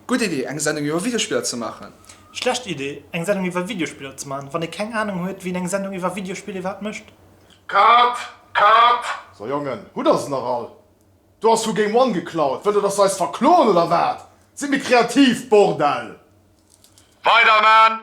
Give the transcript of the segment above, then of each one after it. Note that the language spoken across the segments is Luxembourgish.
Gutt Idee, eng Sendung iwwer Videospiller ze maachen. Schlecht Idee, eng Sendung iwwer Videospiller ze maachen, wann ee keng Ahnung huet, wien eng Sendung iwwer Videospiller iwwerhaapt mécht. Cut! Cut! So Jongen, hutt der se nach all? Do ass vu Game One geklaut. Wëllt der, dass se eis verkloen oder wat? Sidd méi kreativ, Bordell! Weider man!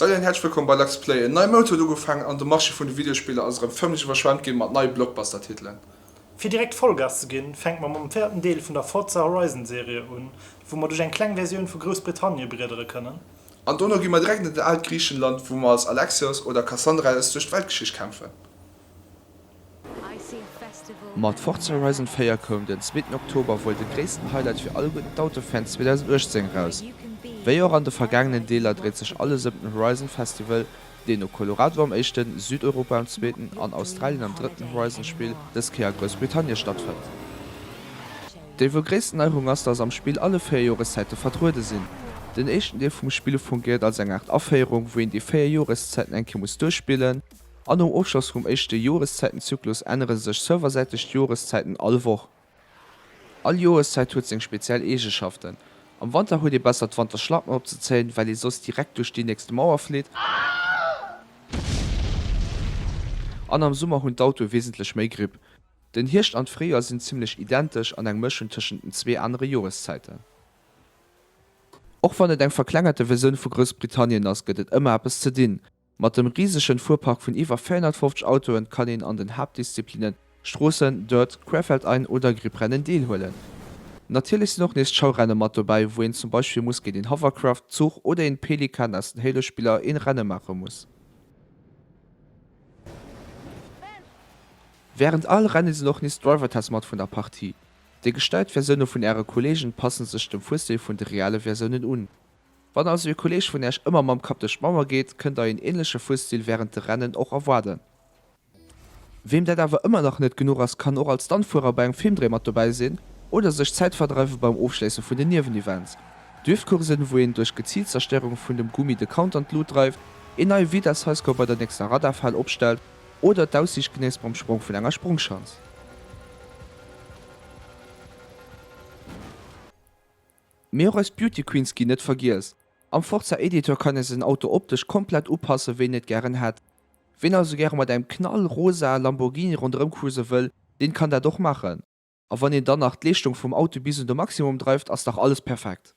Salut an häerzlech wëllkomm bei Lux Play. En neie Mount huet ugefaangen an de Marché vun de Videospiller ass erëm fëmmlech iwwerschwemmt ginn mat neie Blockbuster-Titelen. Fir direkt Vollgas ze ginn, fänke mer mam véierten Deel vun der Forza Horizon Serie un, wou mer duerch eng kleng Versioun vu Groussbritannie briedere kënnen. An dono gi mer direkt an dat aalt Griichenland, wou mer als Alexios oder Kassandra eis duerch d'Weltgeschicht kämpfen. Mat Forza Horizon 4 koum den zweeten Oktober wuel de gréissten Highlight fir all gudden Autofan 2018 eraus. Wéi och an de vergaangenen Deeler dréit sech alles ëm den Horizon Festival, deen no Colorado am éischten, Südeuropa am zweeten an Australien am drëtten Horizon-Spill dës Kéier a Groussbritannie stattfënnt. Déi wuel gréissten Neierung ass, dass am Spill alle véier Joreszäite vertruede sinn. Den éischten Deel vum Spill fungiert als eng Aart Aféierung, wou een déi véier Joreszäiten eng Kéier muss duerchspillen, A nom Ofschloss vum éischte Joreszäitenzyklus ännere sech serversäiteg d'Joreszäiten all Woch. All Joreszäit huet seng speziell Eegeschaften. Am Wanter huet ee besser d'Wanterschlappen opzezéien, well ee soss direkt duerch déi nächste Mauer flitt. An am Summer hunn d'Autoe wesentlech méi Gripp. Den Hierscht an d'Fréijoer sinn zimmlech identesch an eng Mëschung tëschent den zwee anere Joreszäiten. Och wann et eng verklengerte Versioun vu Groussbritannien ass, gëtt et ëmmer eppes ze dinn. Mat dem risegen Fuerpark vun iwwer 450 Autoen kann een an den Haaptdisziplinen, Stroossen, Dirt, Querfeldein oder Gripprennen, deelhuelen. Natierlech sinn och nees d'Schaurennen mat dobäi, wou een zum Beispill muss géint een Hovercraft, Zuch oder een Pelikan aus den Halo-Spiller een Rennen maache muss. Während all Rennen sinn och nees Driver-Tests mat vun der Partie. Déi gestellt Versioune vun äre Kollegen passen sech dem Fuerstil vun de reale Versiounen un. Wann also ee Kolleeg vun Äerch ëmmer mam Kapp duerch d'Mauer geet, kënnt der een ähnleche Fusstil während de Rennen och erwaarden. Weem dat awer ëmmer nach net genuch ass, kann och als Stuntfuerer bei engem Filmdréi mat dobäi sinn oder sech d'Zäit verdreiwe beim Ofschléisse vun den Niewenevents, Driftcoursen, wou een duerch geziilt Zerstéierung vun dem Gummi de Counter an d'Lut dreift, een neie Vitess-Highscore bei der nächster Radarfal opstellt oder d'Aussiicht genéisst beim Sprong vun enger Sprongschanz. Mee och eis Beauty Queens ginn net vergiess. Am Forza Editor kann ee säin Auto optesch komplett upassen, wéi en et gären hätt. Wien also gäre mat engem knallrosa Lamborghini ronderëm cruisen wëll, deen kann dat och maachen. A wann een dann nach d'Leeschtung vum Auto bis un de Maximum dreift, ass dach alles perfekt.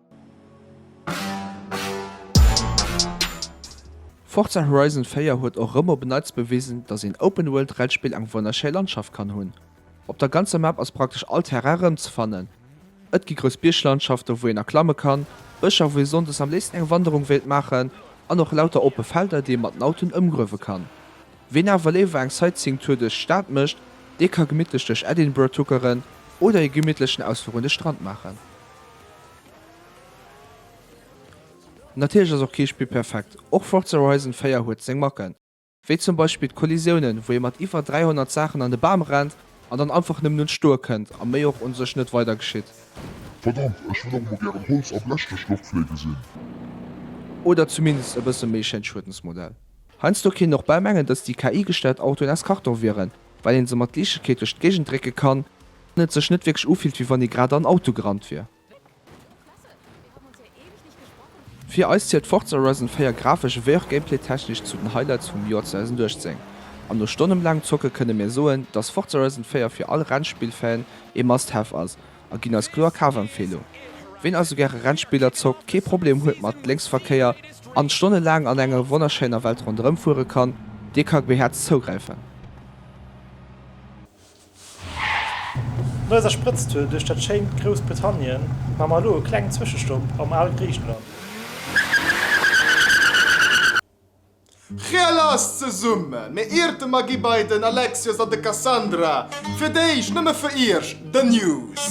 Forza Horizon 4 huet och rëm op en Neits bewisen, dass een Open-World-Rennspill eng wonnerschéi Landschaft kann hunn. Op der ganzer Map ass praktesch all Terrain erëmzefannen. Et gi grouss Bierglandschaften, wou een erklamme kann, Bëscher, wou ee sonndes am léifsten eng Wanderung wéilt maachen, an och lauter oppe Felder, déi ee mat den Autoen ëmgruewe kann. Ween awer léiwer eng Sightseeing-Tour duerch d'Stad mécht, dee ka gemittlech duerch Edinburgh tuckeren oder ee gemittlechen Ausfluch un de Strand maachen. Natierlech ass och kee Spill perfekt, och Forza Horizon 4 huet seng Macken, wéi zum Beispill d'Kollisiounen, wou ee mat iwwer 300 Saachen an de Bam rennt an dann einfach nëmmen un d'Stoe kënnt a méi och u sech net weider geschitt. Verdammt, ech wëll och emol gären Holz a Blech duerch d'Loft fléige sinn! Oder zumindest e bësse méi schéin Schuedensmodell. Heiansdo kéint och bal mengen, dass déi KI-gesteiert Autoen aus Karton wieren, well een se mat Liichtegkeet duerch d'Géigend drécke kann an et sech net wierklech ufillt wéi wann ee grad an Auto gerannt wier. Fir eis zielt Forza Horizon 4 grafesch ewéi och Gameplay-technesch zu den Highlights vum Joer 2018 an no Stonnen laangem Zocke kënne mir soen, dass Forza Horizon 4 fir all Rennspill-Fan ee Must-Have ass a ginn eis kloer Kafempfehlung. Ween also gäre Rennspiller zockt, kee Problem huet mat Lénksverkéier an stonnelaang an enger wonnerschéiner Welt ronderëm fuere kann, dee ka behäerzt zougräifen. No eiser Sprëtztour duerch dat schéint Groussbritannien maache mer elo e klengen Zwëschestopp am Al-Griicheland. Chea lass zesummen, mee ierte mer gi bei den Alexios an de Cassandra fir d'éischt nëmme fir iech The News.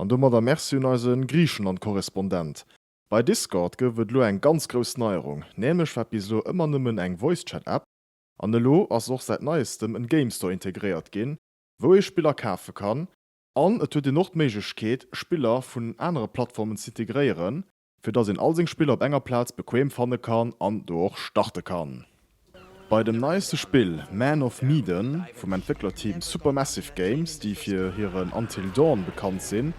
An domadder Merci un eise Griichenland-Korrespondent. Bei Discord gouf et elo eng ganz grouss Neierung, nämlech war bis elo ëmmer nëmmen eng Voice-Chat-App an elo ass och säit neiestem en Game-Store integréiert ginn, wou ee Spiller kafe kann, An et huet een och d'Méiglechkeet, Spiller vun anere Plattformen z'integréieren, fir dass een all seng Spiller op enger Plaz bequeem fanne kann an do och starte kann. Bei dem neieste Spill Man of Medan vum Entwécklerteam Supermassive Games, déi fir hiren Until Dawn bekannt sinn,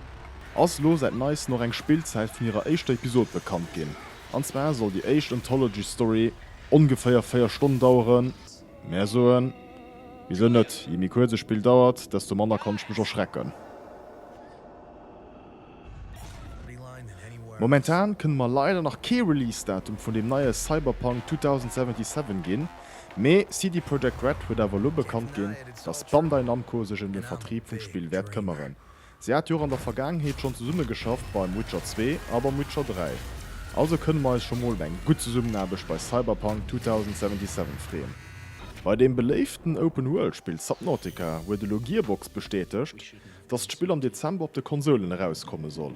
ass elo säit neiesten och eng Spillzäit vun hirer éischter Episod bekannt ginn. An zwar soll déi éischt Anthology-Story ongeféier 4 Stonnen daueren. Mär soen, Wisou net? Je méi kuerz e Spill dauert, desto manner kann ech mech erschrecken. Momentan kënne mer leider nach kee Release-Datum vun dem neie Cyberpunk 2077 ginn, mee CD Projekt Red huet awer elo bekannt ginn, dass Bandai Namco sech ëm de Vertrib vum Spill wäert këmmeren. Si hat jo och an der Vergaangenheet schonn zesumme geschafft beim Witcher zwee a beim Witcher dräi, also kënne mer eis scho mol op eng gutt Zesummenaarbecht bei Cyberpunk 2077 freeën. Bei deem beléiften Open-World-Spill Subnautica huet elo Gearbox bestätegt, dass d'Spill am Dezember op de Konsoulen erauskomme soll.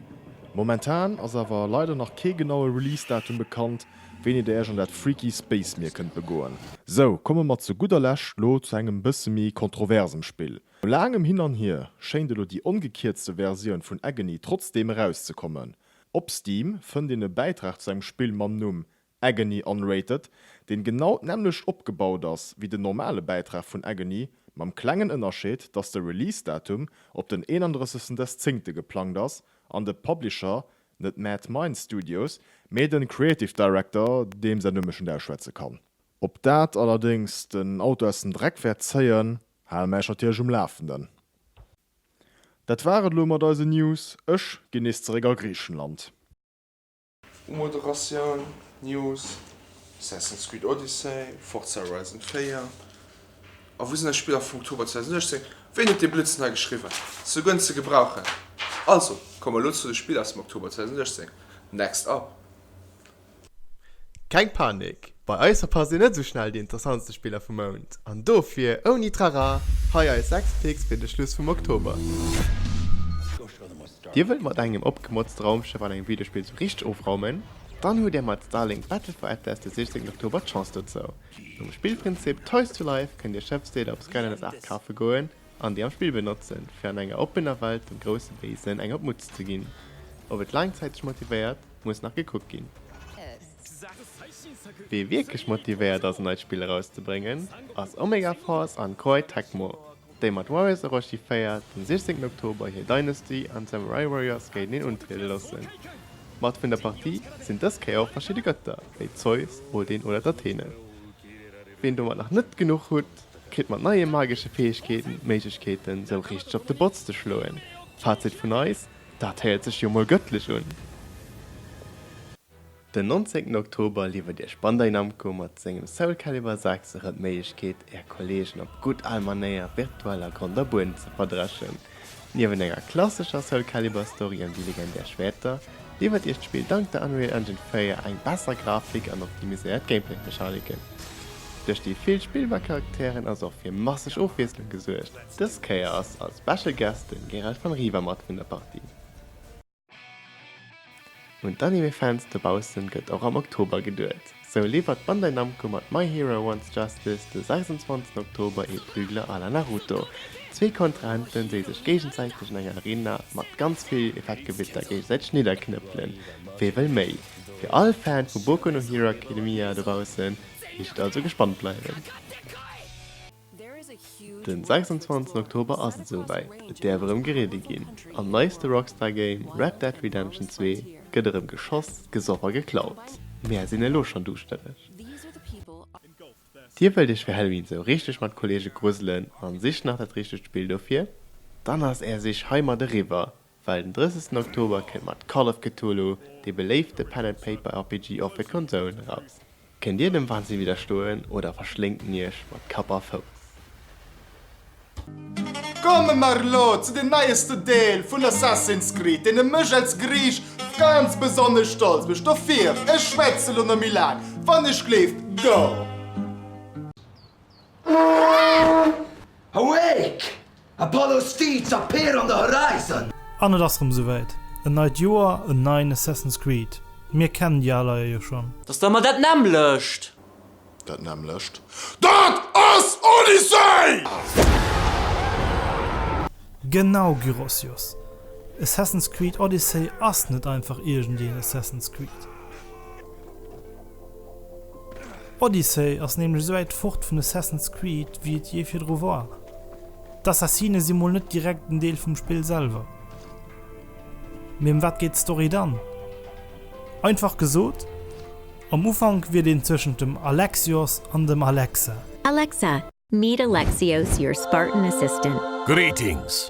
Momentan ass awer leider nach kee genaue Release-Datum bekannt, wéini der Iech an dat freaky Space-Mier kënnt begoen. Sou, komme mer zu gudder Lescht lo zu engem bësse méi kontroversem Spill, No laangem Hin an Hier schéint elo déi ongekierzte Versioun vun Agony trotzdeem erauszekommen. Op Steam fënnt een e Bäitrag zu engem Spill mam Numm Agony Unrated, deen genau d'nämmlecht opgebaut ass wéi den normale Bäitrag vun Agony, mam klengen Ënnerscheed, dass de Release-Datum op den 31 des Zéngte geplangt ass an de Publisher net Mad Mind Studios, mee den Creative Director, deem säin Numm ech net ausschwätze kann. Ob dat allerdéngs den Auto aus dem Dreck wäert zéien, Haal mäich natierlech um Laafenden. Dat war et elo mat eisen News. Ech ginn nees zeréck a Griechenland. Umoderatioun, News, Assassin's Creed Odyssey, Forza Horizon 4 a wou sinn eis Spiller vum Oktober 2016? Ween huet dee Blödsinn hei geschriwwen? Se goen ze gebrauchen. Also, komme mer elo zu de Spiller aus dem Oktober 2016. Next up. Keng Panik, bei eis verpasst een net esou schnell déi interessantste Spiller vum Mount. An dofir, ouni Trara, hei eis 6 Picks fir de Schluss vum Oktober. Dir wëllt mat engem opgemotzte Raumschëff an engem Videospill esou richteg ofraumen? Dann hutt Dir mat Starlink Battle for Atlas de 16 Oktober d'Chance dozou. Nom Spillprinzip Toys to Life kënnt Dir Schëffsdeeler op Skylanders 8 kafe goen an déi am Spill benotzen, fir an enger oppener Welt dem grousse Béisen eng op d'Mutz ze ginn. Ob et laangzäiteg motivéiert? Muss nach gekuckt ginn. Wee wierklech motivéiert ass en neit Spill erauszebréngen ass Omega Force an Koei Tecmo, déi mat Warriors Orochi 4 den 16 Oktober hir Dynasty an Samurai Warriors géinteneen untriede loossen. Mat vun der Partie sinn dës Kéier och verschidde Gëtter wéi Zeus, Odin oder d'Athene. Ween domat nach net genuch hutt, kritt mat neie magesche Fäegkeeten d'Méiglechkeeten sou richteg op de Botz ze schloen. Fazit vun eis. Dat héiert sech jo mol gëttlech un! Den 19 Oktober liwwert iech Bandai Namco mat sengem Soul Calibur 6 erëm d'Méiglechkeet, är Kolleegen op gutt al Manéier virtuell a Grond a Buedem ze verdreschen. Niewent enger klassescher Soul Calibur Story ëm déi legendär Schwäerter, liwwert iech d'Spill dank der Unreal Engine 4 eng besser Grafik an optimiséiert Gameplay-Mechaniken. Duerch déi vill spillbar Charakteren ass och fir masseg Ofwiesslung gesuergt. Dës Kéier ass als Special Guest den Gerald van Riva mat vun der Partie. Un d'Anime Fans dobaussen gëtt och am Oktober geduet. Sou liwwert Bandai Namco mat My Hero Wants Justice de 26 Oktober ee Prügler à la Naruto. Zwee Kontrahenten déi sech géigensäiteg an enger Arena mat ganz vill Effektgewitter géigesäiteg nidderknëppelen. Wee wëll méi? Fir all Fan vu Boku no Hero Academia dobaussen heescht et also gespannt bleiwen. Den 26 Oktober ass et esou wäit, et däerf erëm gereedi ginn. Am neiste Rockstar Game Red Dead Redemption 2 gëtt erëm geschoss, gesoff a geklaut. Mär sinn elo schonn duuschtereg. Dir wëllt iech fir Halloween esou richteg mat Kolleege gruselen an sicht nach dat richtegt Spill dofir? Dann ass är Sich heimat eriwwer. Well den 30 Oktober kënnt mat Call of Cthulhu dee beléifte Pen and Paper RPG och fir d'Konsolen eraus. Kënnt dir dem Wahnsinn widderstoen oder verschléngt en iech mat Kapp a Fouss? Komme mer elo zu dem neiesten Deel vun Assassin's Creed, deen mech als Griich ganz besonnesch stolz mécht. Dofir, ech schwätze elo net méi laang, wann ech gleeft, go! Awake! Apollo Steeds appear on the horizon! An et ass rem souwäit, en neit Joer, en neien Assassin's Creed. Mir kennen déi al Eier jo schon. Dass der mer dat nämmlecht. Dat nämmlecht. Dat ass Odyssey! Genau Gyros Jos, Assassin's Creed Odyssey ass net einfach iergendeen Assassin's Creed. Odyssey ass nämlech esou wäit fort vun Assassin's Creed wéi et jee virdru war. D'Assassine si mol net direkt en Deel vum Spill selwer. Mee ëm wat geet d'Story dann? Einfach gesot, am Ufank wiert een zwëschent dem Alexios an dem Alexa. Alexa, meet Alexios, your Spartan assistant. Greetings!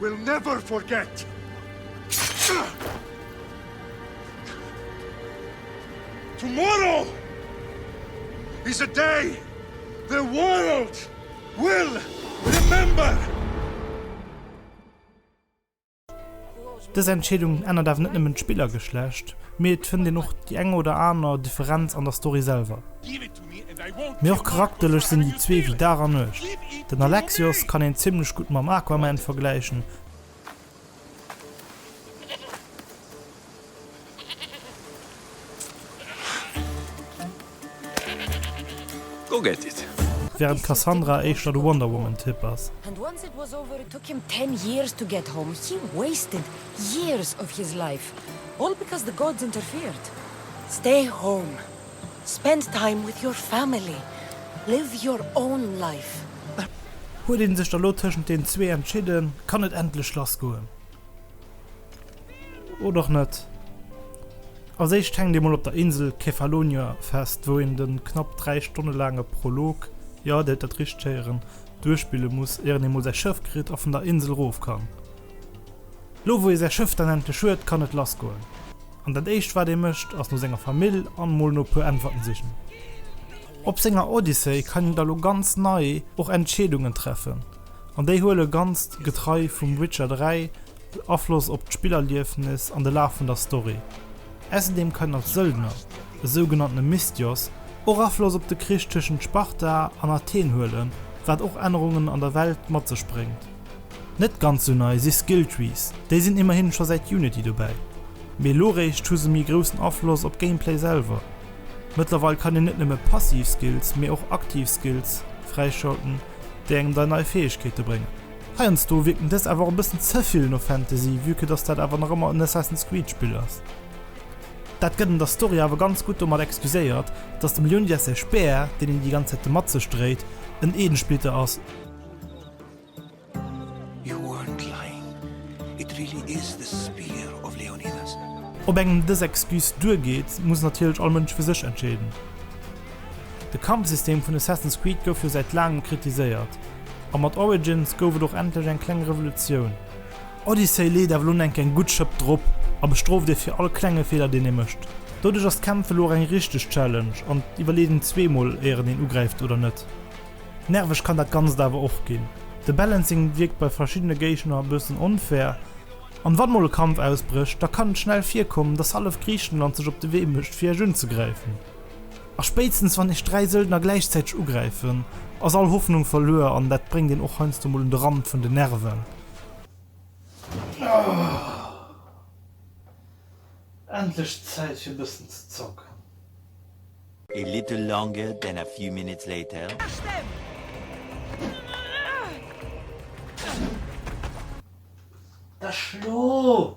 We'll never forget! Tomorrow is a day the world will remember! Dës Entscheedung ännert awer net nëmmen d'Spillergeschlecht, mee et fënnt een och déi eng oder aner Differenz an der Story selwer. Mee och charakterlech sinn déi zwee wéi Dag a Nuecht. Den Alexios kann een zimmlech gutt mam Aquaman vergläichen. Während d'Cassandra éischter de Wonder Woman Typ ass. Spend time with your family, live your own life. Huet een sech da lo tëschent den zwee entschidden, kann et endlech lass goen. Oder och net. Als éischt hänkt ee mol op der Insel Kefalonia fest, wou een den knapp 3 Stonne laange Prolog, jo, dir huet dat richteg héieren, duerchspille muss, ieren ee mol säi Schëff kritt a vun der Insel rof kann. Lo wou ee säi Schëff dann endlech huet, kann et lass goen. An dat éischt wat ee mécht ass no senger Famill an mol no puer Äntwerten sichen. Op senger Odyssey kann een da lo ganz nei och Entscheedungen treffen an déi huele ganz getrei vum Witcher 3 Afloss op d'Spillerliefnis an de Laf vun der Story. Äusserdeem kann een als Söldner, e sougenanntene Misthios, och Afloss op de Krich tëschent Sparta an Athen huelen, wat och Ännerungen an der Welt mat sech bréngt. Net ganz sou nei si Skilltrees, déi sinn immerhin scho säit Unity dobäi, mee elo réischt hu se méi groussen Afloss op d'Gameplay selwer. Mëttlerweil kann een net nëmme passiv Skills, mee och aktiv Skills fräischalten, déi engem dei nei Fäegkeete bréngen. Heiansdo wierken dës awer och e bëssen ze vill no Fantasy, vue que dass dat awer nach ëmmer en Assassin's Creed Spill ass. Dat gëtt an der Story awer ganz gutt domat excuséiert, dass dem Leonidas säi Speer, deen en déi ganz Zäit domat sech dréit, en Edensplitter ass, Ob engem dës Excuse duergeet, muss natierlech all Mënsch fir sech entscheeden. De Kampfsystem vun Assassin's Creed gouf jo säit laangem kritiséiert, a mat Origins gouf et och endlech eng kleng Revolutioun. Odyssey leet awer elo eng keng gutt Schëpp drop a bestrooft ee fir all klenge Feeler deen ee mécht. Doduerch ass d'Kämpfen elo och eng richteg Challenge an d'Iwwerleedung zweemol éieren een ugräift oder net. Nerveg kann dat ganzt awer och gin. De Balancing wierkt bei verschiddene Géigner e bëssen onfair, an wann mol e Kampf ausbrécht, da kann et schnell virkommen, dass hallef Griechenland sech op de Wee mécht fir iech unzegräifen. A spéitstens wann iech 3 Söldner gläichzäiteg ugräifen, ass all Hoffnung verluer, an dat bréngt een och heiansdo mol un de Rand vun den Nerven. Endlech Zäit fir bëssen ze zocken. A little longer than a few minutes later. Da schlo!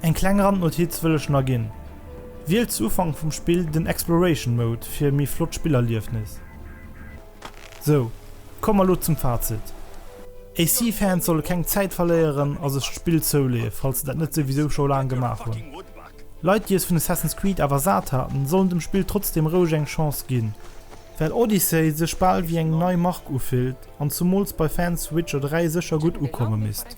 Eng kleng Randnotiz wëll ech na ginn, Wielt zu Ufank vum Spill den Exploration Mode fir e méi flott Spillerliefnis. Sou, komme mer lo zum Fazit. AC Fans solle keng Zäit verléieren a sech d'Spill zouleeë falls se dat net souwisou scho laang gemaach hunn. Leit déi es vun Assassin's Creed awer sat haten, sollen dem Spill trotzdeem roueg eng Chance ginn, well Odyssey sech bal wéi eng nei Mark ufillt an zumools bei Fans Witcher 3 sécher gutt ukomme misst.